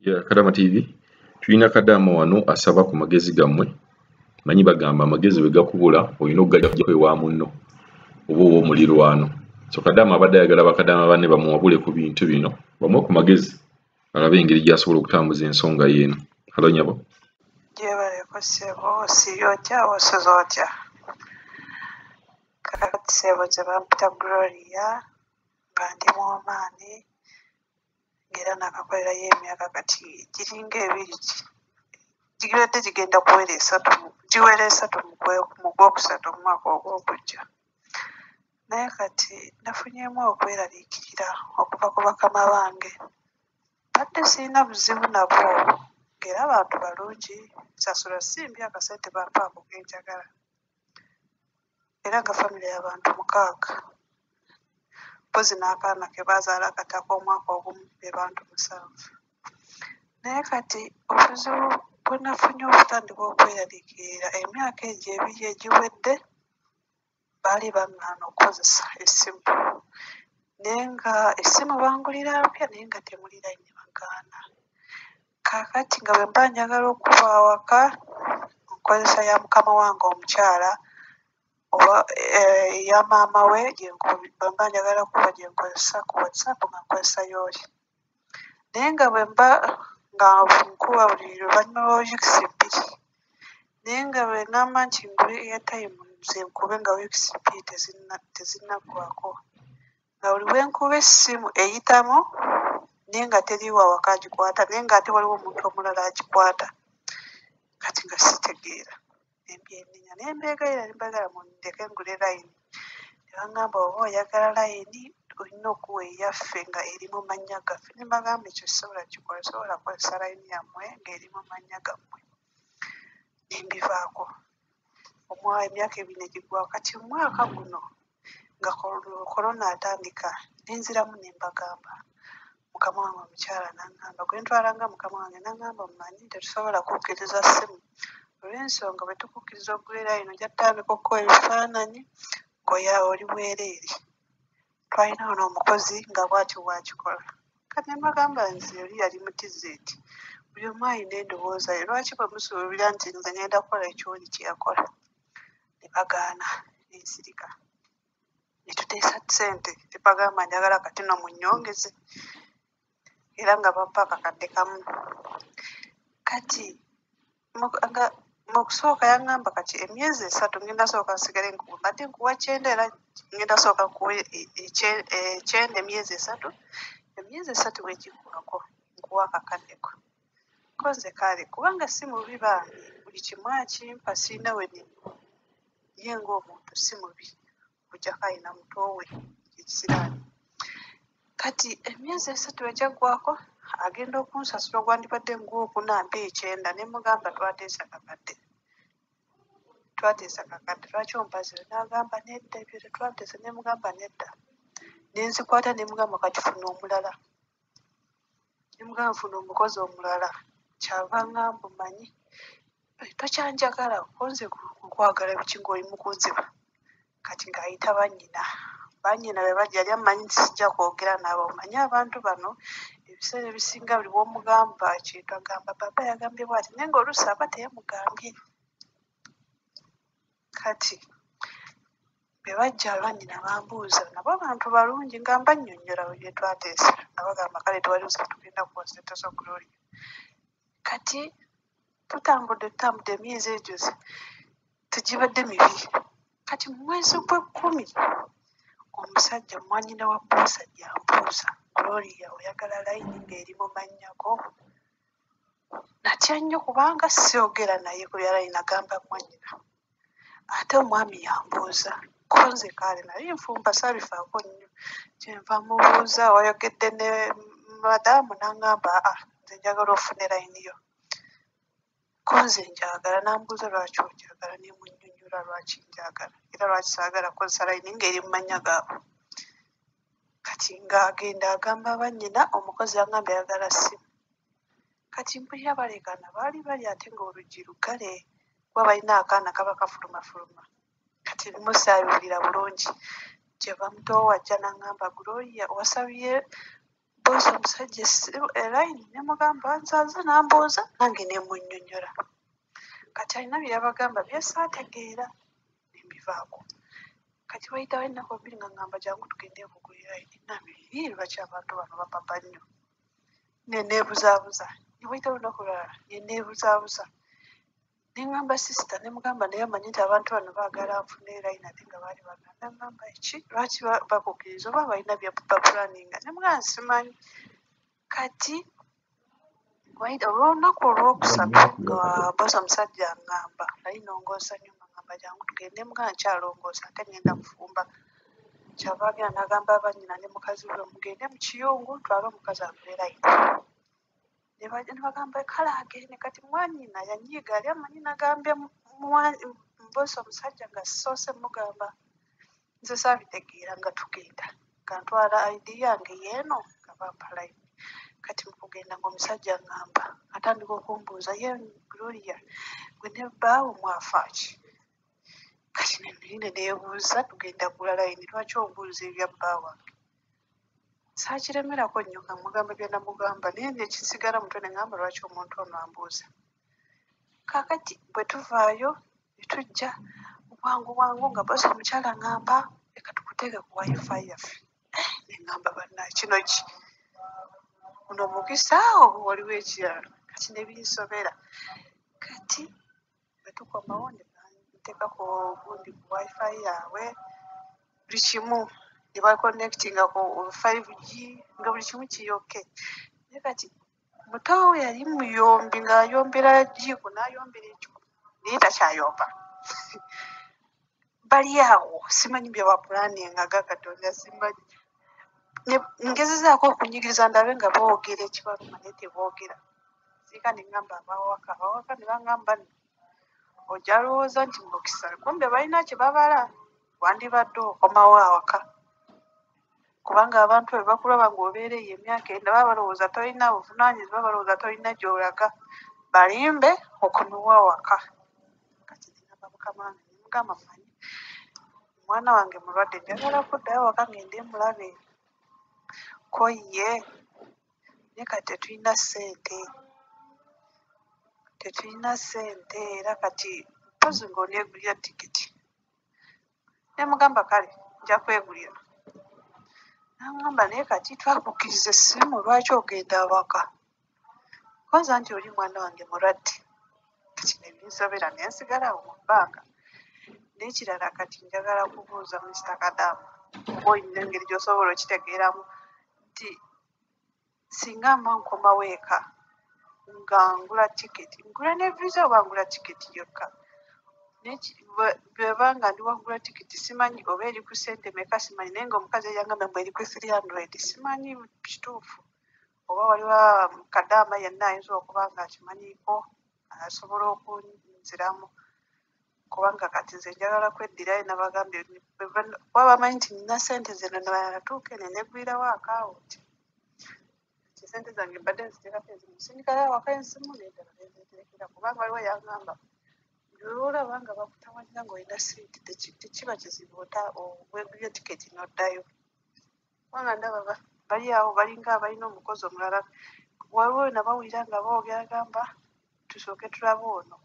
ya kadama tv tulina kadama wano asaba ku magezi gammwe manyi bagamba amagezi bwe gakubula olina okugajako ewa munno oba owa omulirwano so kadama abadde ayagala bakadama banne bamuwabule ku bintu bino bamuwe ku magezi alabe engeri gyasobola okutambuza ensonga yeeno halo nyabo gyebaleko sebo osiibye otya osoza otya kakati sebo gyebampita gloria nga ndi mu omaani era naakakolerayo emyaka kati giringa ebiri gibadde gigenda kuwera esatu giwera esatu mu gwokusatu mu mwaka ogwokujja naye kati nafunyemu okweraliikirira okuva ku bakama bange badde sirina buzibu nabo ng'era bantu balungi nsasula simbi akasente bampaako kenjagala era nga famire y'abantu mukaaga mpozi n'akaana ke baazaala kati ak'omwaka ogumu be bantu musanvu naye kati obuzibu bwe nafunye okutandika okweyaliikirira emyaka egyo ebiri egiwedde baali baŋŋaana okukozesa essimu naye nga essimu bangulira mpya naye nga temuli layini bagaana Kaakati nga bwe mba njagala okuba awaka mu nkozesa ya mukama wange omukyala oba eh, eya maama we gye nko- bwe mba njagala kuba gye nkozesa ku whatsapp nga nkozesa yooli naye nga bwe mba nga nkuba buli luvannyuma lwa weeks bbiri naye nga bwe ngamba nti ngule airtime nze nkube nga weeks bbiri tezinna- tezinnaggwako nga buli wenkuba essimu eyitamu naye nga teriwo awaka agikwata naye nga ate waliwo omuntu omulala agikwata kati nga sitegeera nembyenenya naye mbegaira nembagala mundeke ngule layini nebangamba oba oyagala layini olina okuwa eyaffe nga eri mu mannya gaffe nembagamba ekyo sobola kikola sobola kukozesa layini yammwe ngaeri mu mannya gammwe nembivaako omwa emyaka ebiri negigwawo kati omwaka guno nga korona atandika ne nziramu ne mbagamba mukama wange omukyala n'aŋŋamba gwe ntwalanga mukama wange n'aŋŋamba omumanyi tetusobola kukkiriza ssimu olw'ensonga bwe tukukkiriza okubeera eno ojja tutandika okukola ebifaananyi ng'oya oli bwereere twalina ono omukozi nga bwatyo bwakikola kati ne mbagamba nti oli yali mu tizeti buli omu alina endowooza ye lwaki bwe musuubira nti nze ngenda kukola ekyoli kye yakola ne bagaana ne nsirika ne tuteesa ssente ne bagamba njagala kati no munnyongeze era nga bampa akakadde kamu kati nga mu kusooka yangamba kati emyezi esatu ngenda sooka nsigale nkuwe mbadde nkuwa kyenda era ngenda sooka nkuwe e, e, e, kyenda emyezi esatu emyezi esatu bwegiggwako nkuwa akakaddeko koze kale kubanga si mubi bambi buli kimu akimpa sirina we nivvu ye ng'omuntu si mubi okujjako alina muto we ekisiraani kati emyezi esatu egyaggwako agenda okunsasula ogwandibadde ngwokuna mpa ekyenda ne mugamba twateesa kakadde twateesa kakadde lwaki ompazire n'agamba nedda ebyo tetwateesa ne mugamba nedda ne nzikwata ne mugamba kati funa omulala nembwa nfuna omukozi omulala kyava nga mbu manyi tokyanjagala kunze kukwagala biki ngaoli mukuziba kati ngaayita banyina banyina bebajali amanyi nti sijja kwogera nabo manyi abantu bano ebiseera ebisinga buli bwomugamba kintu agamba baba yagambye bwati naye nga oluusi aba teyamugambye kati be bajja lwanyina bambuuza nabo abantu balungi nga mbannyonnyola bwe byetwateesa nabagamba kale tewali buzibu tugenda kuwa sente zo gloria kati tutambudde tutambudde emyezi egyo tegibadde mibi kati mu mwezi gw'ekkumi omusajja mwanyina wa boosa gyambuuza gloria oyagala layini ng'eri mu mannyako natya nnyo kubanga syogera naye ku byala inagamba mwanyina ate omwami yambuuza ko nze kaale nali nfumba sabifaako nnyo kyenva mubuuza wayogedde ne madamu nangamba a ah, nze njagala ofune layini yo ko nze njagala nambuuza lwaki onjagala nemunyonyola lwaki njagala era lwaki saagala kozesa layini ngaeri mu mannya gaabwe kati ng'agenda agamba bannyina omukozi agamba ayagala ssimu kati mpulira baleekaana baali bali ate ng'oluggi luggale kuba balina akaana kaba kafulumafuluma kati ebimu saabiwulira bulungi kyeva mutowo wajja n'aŋŋamba gloria wasabye boosi omusajja essimu elayini ne mugamba nzaaze n'ambuuza nange ne munnyonnyola kati alina bye yabagamba bye saategeera nembivaako kati wayitawo ennaku bbiri nga ngamba jangu tugende okugulira enamiri lwaki abantu bano bapapa nnyo neneebuzaabuza newayita lunaku lwala neneebuzaabuza nengamba sisita nemugamba naye amanyi nti abantu bano baagala nfuna erayina ate nga baali baganda ngamba eki lwaki bakukiriza oba balina byabapulaninga nemugamba simanyi kati waida olw'olunaku olwokusatu nga bosa omusajja angamba nali nongoosa nyo ngamba jangu tugende muga nkyalongoosa ate ngenda kufumba kyava agenda nagamba abanyina ne mukazi we mugende mu kiyungu twale omukazi abeera ino nebagamba kale agende kati mwanyina yanyiiga yali amanyi nagambye mbosa omusajja nga sisoose mugamba nze saabitegeera nga tugenda nga ntwala id yange yeeno nga bampalayini kati mukugenda ngaomusajja ngamba atandika okumbuuza ye gloria gwe ne bbaawo mwafaaki kati nenine neebuuza tugenda gula layini lwaki obuuza ebya bba wange saakiremerako nnyo nga mugamba byanamugamba naye nekisigala mutwe ne ngamba lwaki omuntu ono ambuuza kakati bwe tuvaayo ne tujja bwangu bwangu nga basi omukyala ngamba leka tukuteeke ku wifi yaffe eh, ne ngamba banna kino ki buno mukisa oba waliwo ekirala kati ne binsobera kati bwe tukomawo ne banteekako gundi ku wifi yaabwe buli kimu ne baconnectinga ku 5g nga buli kimu kiyoke naye kati mutoowe yali muyombi ng'ayombera jiiko n'ayombera ekiko naye takyayomba bali awo simanyi byewapulaninga ga katonda simanyi ngezezaako okunyigiriza ndabe nga boogera ekibaluma naye teboogera siika nengamba abawaka abawaka nebangamba ojja lowooza nti mukisa kumbe balina kyebabala wandibadde okomawo awaka kubanga abantu bwe bakulaba ng'obeera eyo emyaka enda baba balowooza tolina buvunaanyizibwa balowooza tolina gy'olaga balimbe okomewo awaka kati nagamba mukama wange nemugamba manyi omwana wange mulwadde njagala kuddayo awaka ngende mulabe ko ye naye kati tetulina ssente tetulina ssente era kati mpozi ng'oneegulira tikiti ne mugamba kale nja kwegulira nangamba naye kati twakukkiriza essimu lwaki ogenda awaka kwanza nti oli mwana wange mulwadde kati nebinsobera nensigala awo mu bbanga n'ekirala kati njagala kubuuza mister kadamu oba olina engeri gyosobola okitegeeramu nti singa mba nkomawo eka nga ngula tiketi ngula ne visa oba ngula tiketi yokka bweba nga ndi wangula tiketi simanyi oba eri ku sente meka simanyi naye nga omukazi eyangamba mbu eri ku 300 simanyi kituufu oba waliwo kadaama yenna ayinza okuba nga akimanyiiko asobola okunziramu kubanga kati nze njagala kweddira ye nabagambye kuba bamanyi nti nina sente zino natuuka ene negwirawo akawunti nti sente zange mbadde nziterako ezimu sindikayo awaka ensimu nedala nezeterekera kubanga waliwo yagamba olaba nga bakutawanya ngaolina sente tekiba kizibu ota wegulya tiketi noddayo kubanga ndaba ba- bali awo balinga abalina omukozi omulala waliwo wena bawulira nga boogera gamba tusooke tulabe ono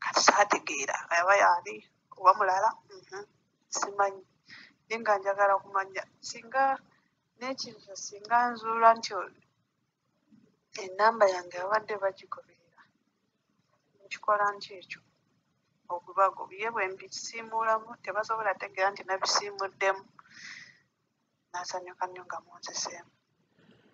kati saategeera aba yaani oba mulala mhm, simanyi naye nga njagala kumanya singa n'ekirira singa nzuula nti o- enamba yange abadde bagigoberera nkikola nti ekyo ogubago ye bwembisiimuulamu tebasobola tegeera nti nabisiimuddemu nasanyuka nnyo nga munziseemu